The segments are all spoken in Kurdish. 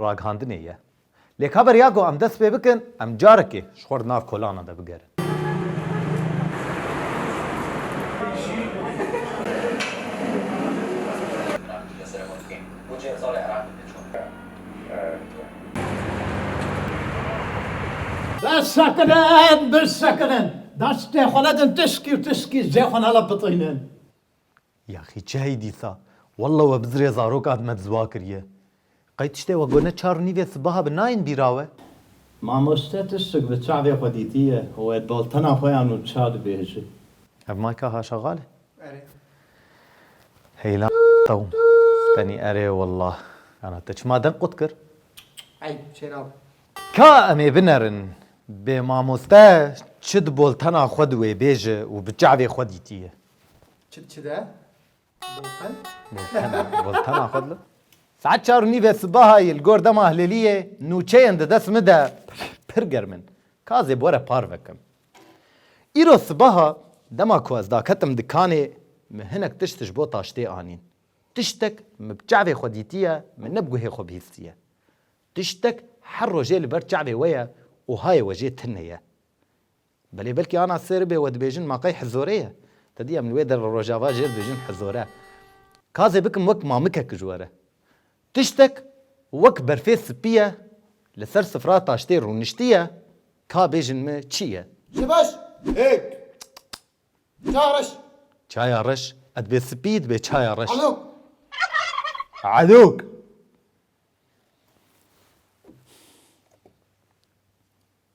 Ragihandinê ye. Lê ka beriya ku em dest pê bikin, em carekê ji xwe re nav kolanan de bigerin. Dest sekirin, dest sekirin. Destê xwe nedin tiskî û tiskî cihê xwe nala pitînin. Yaxî çi hey dîsa. Wallah we bi zirê zarok ad me dizwa kiriye. Qey tiştê wek gone çar nîvê sibaha bi nayên bîra we? Mamoste tiştek li çavê xwe dîtiye wê doltena xwe ya nû ça dibêje. Ev mayka haşaxal e? Erê. Hey la tewm. Tenî erê wallah. Ana te çima deng qut kir? Ey çêna be. Ka em ê binerin. Bê mamoste çi di boltena xwe di wê bêje û bi çavê xwe dîtiye. Çi çi de? Bolten. Boltena. Boltena xwe dile. Saet çar û nîvê sibahayî li gor dema hilêliyê nûçeyên di dest min de pir germ in. Ka zê bi were par vekim. Îro sibaha dema ku ez daketim dikanê min hinek tişt ji bo taştê anîn. Tiştek min bi çavê xwe dîtiye min ne bi guhê xwe bihîstiye. Tiştek her rojê li ber çavê we ye û hayê we jê tune ye. Belê belkî ana ser be we dibêjin ma qey hizore ye. Te dî em li wê der li Rojava jê dibêjin hizore. Kazê bikim wek mamikek ji we re. Tiştek wek berfê sipî ye li ser sifra taştê rûniştî ye ka bêjin me çi ye. Ji beş, hêk. Çaya reş. Çaya reş, e dibe sipî dibe çaya reş. Elok. Elok.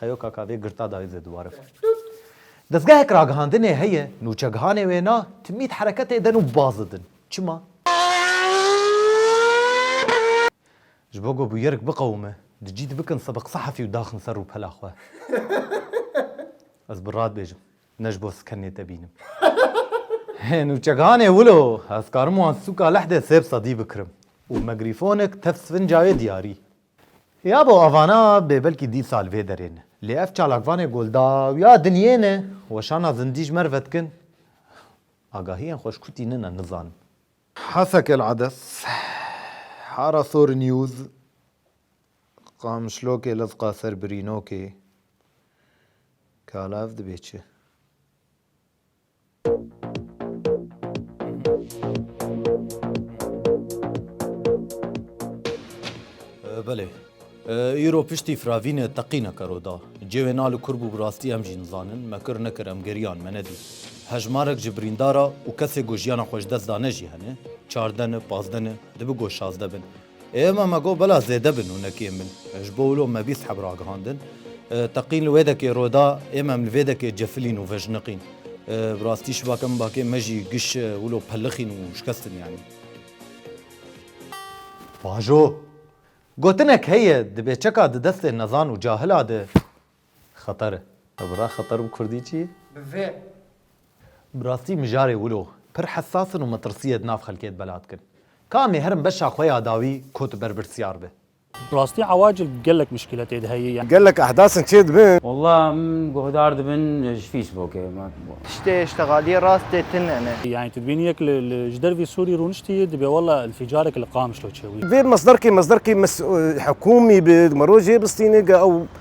Xeyo kaka vê girta dayê zê diwarif. Dezgehek ragihandinê heye, nûçegihanê wêna timît hereketê din û baz didin. Çima? Ji bo ku bûyerik biqewime, di cî de bikin sebik sehefî û daxin ser rûpela xwe. Ez bi rad bêjim, ne ji bo skenê te bînim. Hê nûçegihanê wilo, ez karim wan sûka leh de sêb sedî bikirim û megrîfonek tev sivinca wê diyarî. Ya bo avana bê belkî dî sal vê derê ne. Lê ev çalakvanê gol dawiya dinyê ne. Weşana zindî ji merve dikin. Agahiyên xwe ji ku tînin e nizanin. Hasek El Ades, Harasor News, Qamişlokê lezqa ser birînokê. Kala ev dibê çi? Belê. Îro piştî firavînê teqîneke ro da. Cêwê na li kur bû bi rastî em jî nizanin. Me kir nekir em geriyan me nedî. Hejmarek ji birîndara û kesê ku jiyana xwe ji dest dane jî hene. Çardene, pazdene, dibi ku şazde bin. Êma me got bela zêde bin û nekêm bin. Ji bo wilo me bîst heb ragihandin. Teqîn li wê dekê ro da êma em li vê dekê cefilîn û vejniqîn. Bi rastî şibake min bakê me jî giş wilo pelixîn û şikestin yanî. Bajo! Gotinek heye dibê çeka di destê nezan û cahila de. Xeter e. Bira xeter bi kurdî çi ye? Bi vê. Bi rastî mijarê wilo pir hessas in û metirsiyê di nav xelkê de bela dikin. Ka em ê herin beşa xwe ya dawî ku tu berpirsyar be. Bi rastî ewacil gelek muşkîle tê de heye. Gelek ehdas in çê dibin. Wallah em guhdar dibin ji fîsbokê. Tiştê îştixaliyê rast tê tinene. Yanî tu dibînî yek li ji dervî Sûrî rûniştî dibê wallah înfîcarek li Qamişlo çêwî. Vê masdarkê masdarkê hikûmî bi, di miro jê bistîne ge ew.